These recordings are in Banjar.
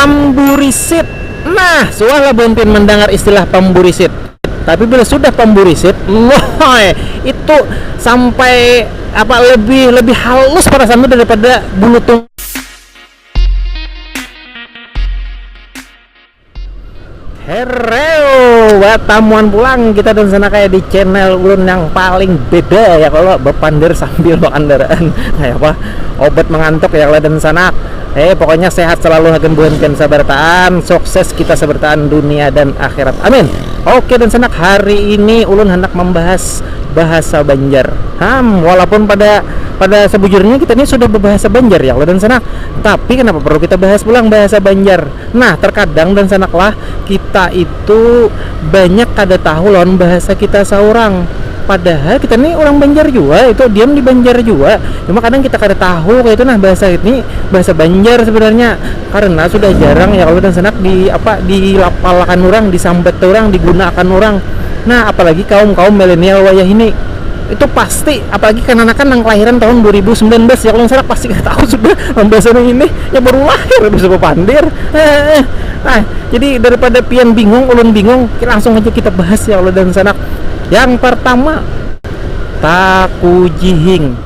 Pamburisit, nah suah lah bumpin mandangar istilah pamburisit, tapi bila sudah pamburisit, lhoi, itu sampai apa lebih lebih halus parasaan tu daripada bulu tunggal. Hereu, batamuan pulang kita dan Senakaya di channel ulun yang paling beda ya kalau bepander sambil bakandaraan kayak apa obat mengantuk ya kalau dan Sanak eh pokoknya sehat selalu hagan buhan pian sabartaan sukses kita sabartaan dunia dan akhirat amin oke dan Sanak hari ini ulun handak membahas bahasa Banjar ham walaupun pada pada sebujurnya kita ini sudah berbahasa Banjar ya kalau dan Sanak tapi kenapa perlu kita bahas pulang bahasa Banjar Nah, terkadang dansanak lah, kita itu banyak kada tahu lawan bahasa kita saurang. Padahal kita ni urang Banjar jua itu, diam di Banjar jua, cuma kadang kita kada tahu kaitu nah bahasa ini bahasa Banjar sebenarnya karena sudah jarang ya kalo dansanak di apa di lapal akan urang, disambat urang, diguna akan urang. Nah, apalagi kaum-kaum milenial wayah ini. itu pasti apalagi kananakan nang kelahiran tahun 2019 ya kalau salah pasti kada tahu sudah pambahasan yang ini ya baru lahir habis itu bapandir eh, nah jadi daripada pian bingung ulun bingung langsung aja kita bahas ya Allah dan sanak yang pertama takujihing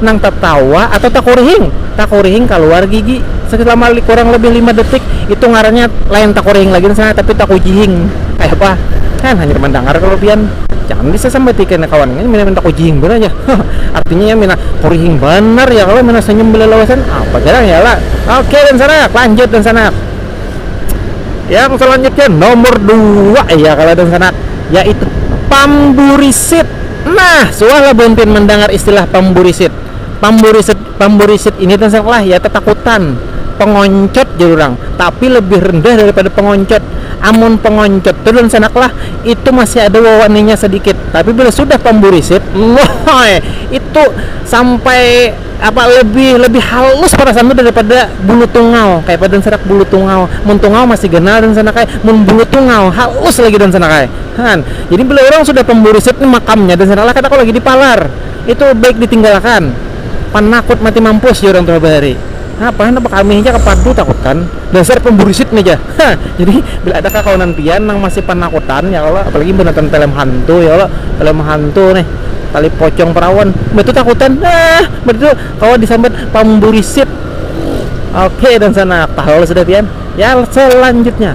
nang tatawa atau takurihing. Takurihing kaluar gigi selama kurang lebih lima detik itu ngarannya lain takurihing lagi sana tapi takujihing kayapa kan hanyar mandangar kalu pian jangan bisa sambati kena kawan ngini pina takujihing banar ja artinya inya pina kurihing banar ya kalo pina sanyum balalawasan apa jarang ya kalo oke dan sanak lanjut dan sanak yang selanjutnya nomor dua ya kalo dan sanak yaitu pamburisit. Nah, suah lah buntin mandangar istilah pamburisit. Pamburisit pamburisit ini tansang lah ya tatakutan, pengoncot jar urang, tapi lebih rendah daripada pengoncot. Amun pengoncot tu dansanak lah, itu masih ada wawaninya sadikit, tapi bila sudah pamburisit, lhoi, itu sampai apa lebih lebih halus parasaan tu daripada bulu tungau. Kayapa dansanak bulu tungau? Mun tungau masih ganal dansanak ai, mun bulu tungau halus lagi dansanak ai. Han. Jadi bila urang sudah pamburu sip ni makamnya dan sanalah kada kawa lagi dipalar. Itu baik ditinggalakan. Panakut mati mampus jar urang tuha bahari. Napa handak bakamih ja ka padu takut kan. Dasar pamburu sip ni ja. Ha. Jadi bila ada kakawanan pian nang masih panakutan ya kalo apalagi imbah nonton pelem hantu ya kalo. Pelem hantu nih tali pocong perawan mbah tu takutan ah mbah tu kawa disambat pamburi sip. Oke dan sanak. Tahu sudah pian? Ya selanjutnya.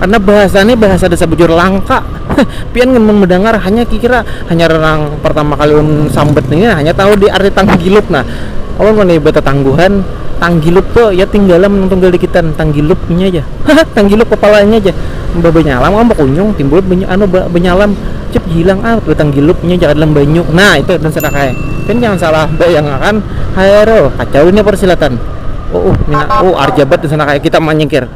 Karna bahasa ne bahasa desa bujur langka. Pian gin mun mendangar hanya kikira hanyar nang pertama kali ulun sambat ini nah hanya tahu di arti tanggilup nah. Ulun ngini betetangguhan tanggilup tu ya tinggalam nang tunggal dikitan tanggilup inya aja haha tanggilup kepala inya aja imbah benyalam am bekunyung timbul be anu ba benyalam cip hilang ah betanggilup inya aja ka dalam banyu nah itu dan sadakaya pian jangan salah bayang akan haero kacau ini persilatan uuh mina uh arjabat dan sadakaya kita manyingkir.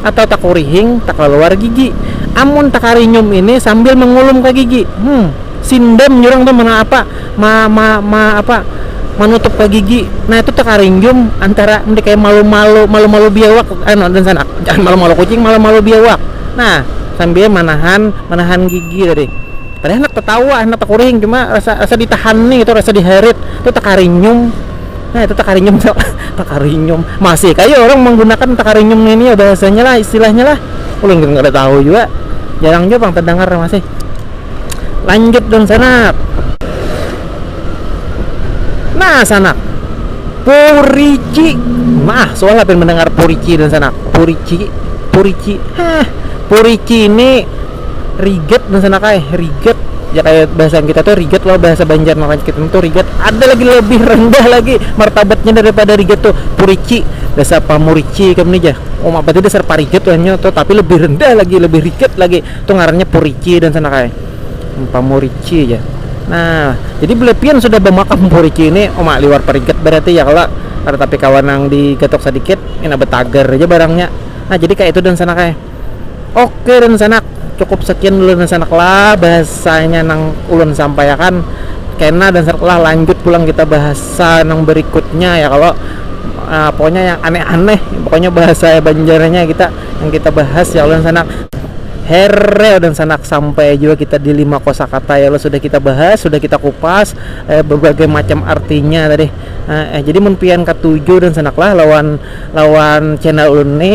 atau takurihing takaluar gigi. Amun takarinyum ini sambil mangulum ka gigi, hmm sindam jar urang tu ma apa ma ma ma apa manutup ka gigi nah itu takarinyum antara nda kaya malu-malu malu-malu biawak anu dansanak jangan malu-malu kucing malu-malu biawak nah sambil manahan manahan gigi tadi kada handak tatawa handak takurihing cuma rasa rasa ditahan ni tu rasa diharit tu takarinyum. Nah itu takarinyum tu takarinyum masih kaya orang menggunakan takarinyum ini ya bahasanya lah istilahnya lah ulun gin kada tahu jua jarang jua pang tedangar masih lanjut dong sanak nah sanak purici nah suah lah pian mendengar purici dong sanak purici purici heh purici ini riget dan sana kaya riget ya kayak bahasa kita tuh riget loh bahasa Banjar makanya kita tuh riget ada lagi lebih rendah lagi martabatnya daripada riget tuh purici dasar pamurici kam nih jah oh apa tuh dasar pariget tuh hanya tuh tapi lebih rendah lagi lebih riget lagi tuh ngarannya purici dan sana kaya hmm, pamurici ya nah jadi belepian sudah bemakan purici ini oh mak liwar pariget berarti ya kalau ada tapi kawan yang digatok sedikit ini betager aja barangnya nah jadi kayak itu dan sana kaya Oke dan sanak, cukup sekian dulu dan sanak lah bahasanya nang ulun sampaiakan, kena dan sanak lah lanjut pulang kita bahasa nang berikutnya ya kalo, pokoknya yang aneh-aneh pokoknya bahasa banjarnya kita yang kita bahas ya kalo dan sanak, hereo dan sanak sampai jua kita di lima kosakata ya kalo sudah kita bahas sudah kita kupas berbagai macam artinya tadi, jadi mun pian katuju dan sanak lah lawan lawan channel ulun ni.